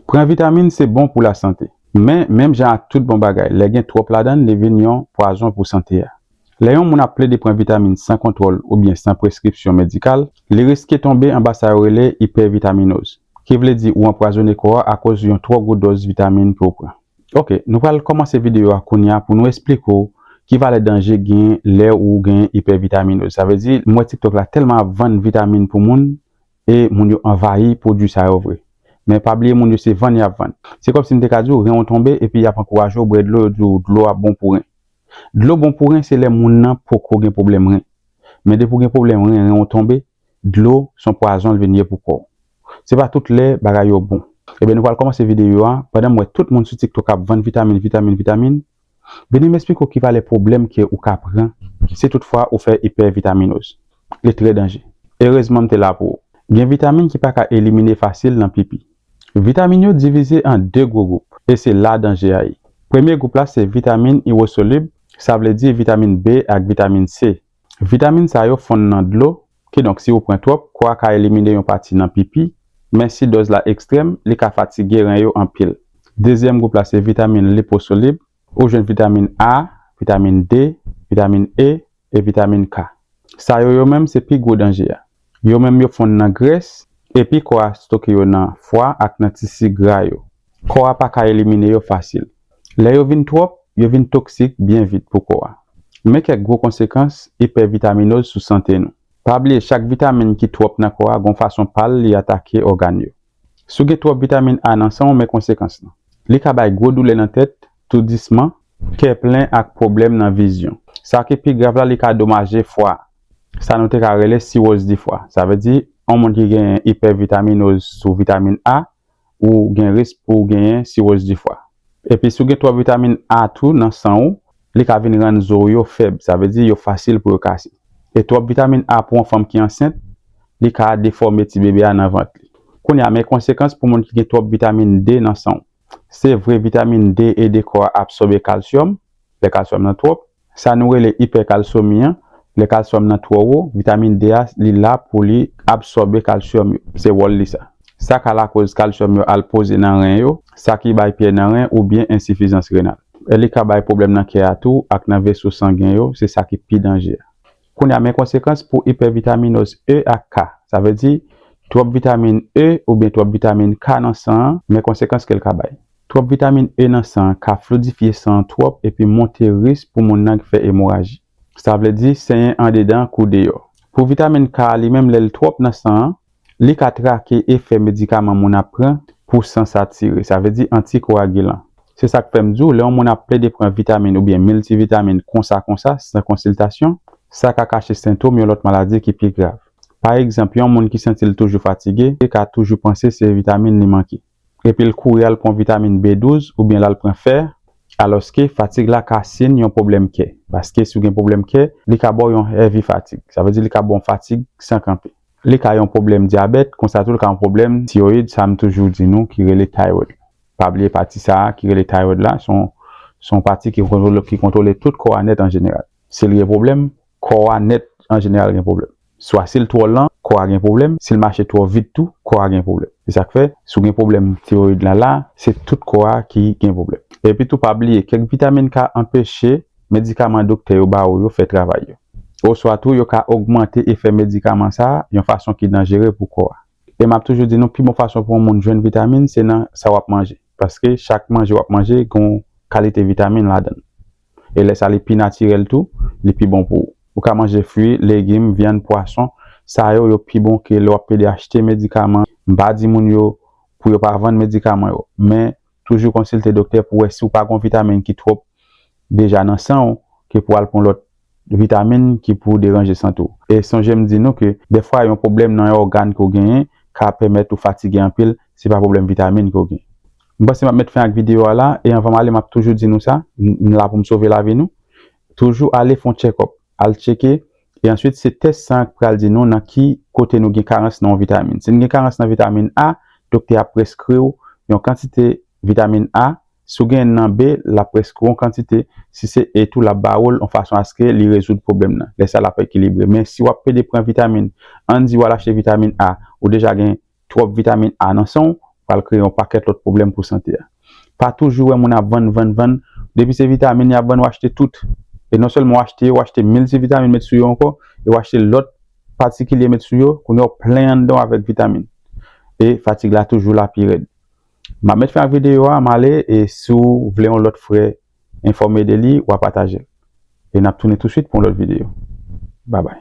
Pran vitamin se bon pou lasante. Men, menm jan ak tout bon bagay, lè gen twòp ladan l, li vin yon pwazon pou sante a. Lè yon moun ap plede pran vitamin san kontwòl oubyen san preskripsyon medikal, li riske tonbe anba sa yo rele ipèvitaminoz, ki vle di ou anpwazone kò a akoz yon twò gwo dòz vitamin ke w pran. Ok, nou pral kòmanse videyo a kounya pou nou esplike w ki valè danje gen lè ou gen ipèvitaminoz. Sa vle di, m wè TikTok la tèlman ap vann vitamin pou moun, E moun yo anvayi pwodwi sa yo vre. Men pa bliye moun yo se vann y ap vann. Se kòmsi m te ka di w ren w tonbe epi y ap ankouraje w bwè dlo yo di w dlo a bon pou ren. Dlo bon pou ren se lè moun nan poko gen pwoblèm ren. Men depi w gen pwoblèm ren, ren w tonbe, dlo s on pwazon l vin ye pou kò w. Se pa tout lè bagay yo bon. Ebyen nou pral kòmanse videyo a. Pandan m wè tout moun sou tiktok ap vann vitamin vitamin vitamin. Beni m esplike w ki valè pwoblèm ke ou ka pran si tout fwa ou fè ipèvitaminoz. Li trè danje. Erezman m te la pou ou. Gen vitamin ki pa ka elimine fasil nan pipi. Vitamin yo divize an 2 gwo gwoup e se la danje a ye. Premye gwoup la se vitamin iwosolib, sa vle di vitamin B ak vitamin C Vitamin sa yo fonn nan dlo, kidonk si ou pran twòp, kò a ka elimine yon pati nan pipi, men si dòz la ekstrèm, li ka fatige ren yo anpil. Dezyèm gwoup la se vitamin liposolib, ou jwenn vitamin A, vitamin D, vitamin E, e vitamin K. Sa yo yo menm se pi gwo danje a. Yo menm yo fonn nan grès, epi kò a stoke yo nan fwa ak nan tisi gra yo. Kò a pa ka elimine yo fasil. Lè yo vin twòp, yo vin toksik byen vit pou kò a. Men kèk gwo konsekans ipèvitaminoz sou sante nou. Pa bliye chak vitamin ki twòp nan kò a gon fason pa l li atake ògàn yo. Si w gen twòp vitamin A nan san w men konsekans lan. Li ka bay gwo doulè nan tèt, toudisman, kè plen ak pwoblèm nan vizyon. Sa ki pi grav la li ka domaje fwa a. sa nou te ka rele siwoz difwa. Sa vle di, yon moun ki gen ipèvitaminoz sou vitamin A, ou gen risk pou w genyen siwoz difwa. Epi si w gen twòp vitamin A tou nan san ou, li ka vin rann zo w yo fèb, sa vle di yo fasil pou yo kase. E twòp vitamin A pou yon fanm ki ansent, li ka defòme ti bebe a nan vant li. Kounye a, men konsekans pou moun ki gen twòp vitamin D nan san w. Se vre vitamin D ede kò a absòbe kalsyòm, lè kalsyòm nan twòp, Sa nou rele ipèkalsomi an, lè kalsyòm nan twò wo, vitamin D a li la pou li absòbe kalsyòm yo. Se wòl li sa. Sa ka lakoz kalsyòm yo al poze nan ren yo, sa ki bay pyè nan ren oubyen ensifizans renal. Li ka bay pwoblèm nan kè a tou ak nan veso sangen yo, se sa ki pi danje a. Kounye a, men konsekans pou ipèvitaminoz E ak K. Sa vle di, twòp vitamin E oubyen twòp vitamin K nan san an, men konsekans ke l ka bay. Twòp vitamin E nan san an ka flidifye san an twòp epi monte risk pou moun nan fè emoraji. Sa vle di, senyen andedan kou deyò. Pou vitamin K a li menm lè l twòp nan san an, Li ka trake efè medikaman moun ap pran pou san satire, sa vle di antikoagilan. Se sa k fè m di w lè yon moun ap plede pran vitamin oubyen miltivitamin konsa konsa san konsiltasyon, sa ka kache sentom yon lòt maladi ki pi grav. Pa egzanp, yon moun ki santi l toujou fatige ka toujou panse se vitamin li manke. epi l kouri al pran vitamin B12 oubyen l al pran fè, alòske fatig la ka siyn yon pwoblèm kè, paske si w gen pwoblèm kè, li ka ba w yon heavy fatigue, sa vle di li ka ba w fatig san kanpe. Li ka yon pwoblèm dyabèt, konsa tou li ka yon pwoblèm tiroyid, sa m toujou di nou ki rele thyroid la. Pa bliye pati sa a ki rele thyroid la, se yon pati ki kontwole tout kò a nèt an jeneral. Si l gen pwoblèm, Kò a nèt an jeneral gen pwoblèm. Swa si l twò lan, kò a gen pwoblèm, si l mache twò vit tou, kò a gen pwoblèm. Se sa k fè, si w gen pwoblèm tiroyid lan la, se tout kò a ki gen pwoblèm. Epi tou pa bliye, kèk vitamin ka anpeche medikaman doktè yo ba ou yo fè travay yo. Oswa tou yo ka ogmante efè medikaman sa a yon fason ki danjere pou kò a. E m ap toujou di nou pi bon fason pou yon moun jwenn vitamin se nan sa w ap manje. Paske chak manje w ap manje gen yon kalite vitamin ladan l. e lè sa li pi natirèl tou, li pi bon pou ou. Ou ka manje fwi, legim, vyann, pwason, sa yo yo pi bon ke lè wap pede achte medikaman, m pa di moun yo pou yo pa vann medikaman yo, men toujou konsilte doktè pou wè si ou pa gon vitamin ki twop deja nan san ou ke pou al pran lòt vitamin ki pou deranje sante ou. E sonje m di nou ke dèfwa yon pwoblèm nan yon ògàn ke w genyen ka pèmèt ou fatige anpil, se pa pwoblèm vitamin ke w genyen. M panse map met fen ak video a la e anvanm ale map toujou di nou sa m la poum sove lavi nou toujou ale fon tchekop al tcheke e answit se tès san k pral di nou nan ki kote nou gen karans nan yon vitamin si n gen karans nan vitamin A doktè ap preskriw yon kantite vitamin A si w gen nan B lap preskriw yon kantite si se E tou lap ba oul yon fason aske li rezoud pwoblèm nan lè sa lap ekilibre men si wap pede pran vitamin ann di wal achte vitamin A ou deja gen Twòp vitamin A nan san w pral kreye yon pakèt lòt pwoblèm pou sante a. Pa toujou wè moun ap vann, vann, vann. Depi se vitamin y ap vann w achte tout. E non sèlman w achte yo, w achte miltivitamin met sou yo ankò, e w achte lòt patikilye met sou yo, kounye a w plen anndan w avèk vitamin. E fatig la toujou la pi rèd. M ap mèt fen ak videyo a, m ale e si w vle yon lòt frè enfòme de li, w a pataje l. E n ap tounen touswit pou yon lòt videyo. Babay.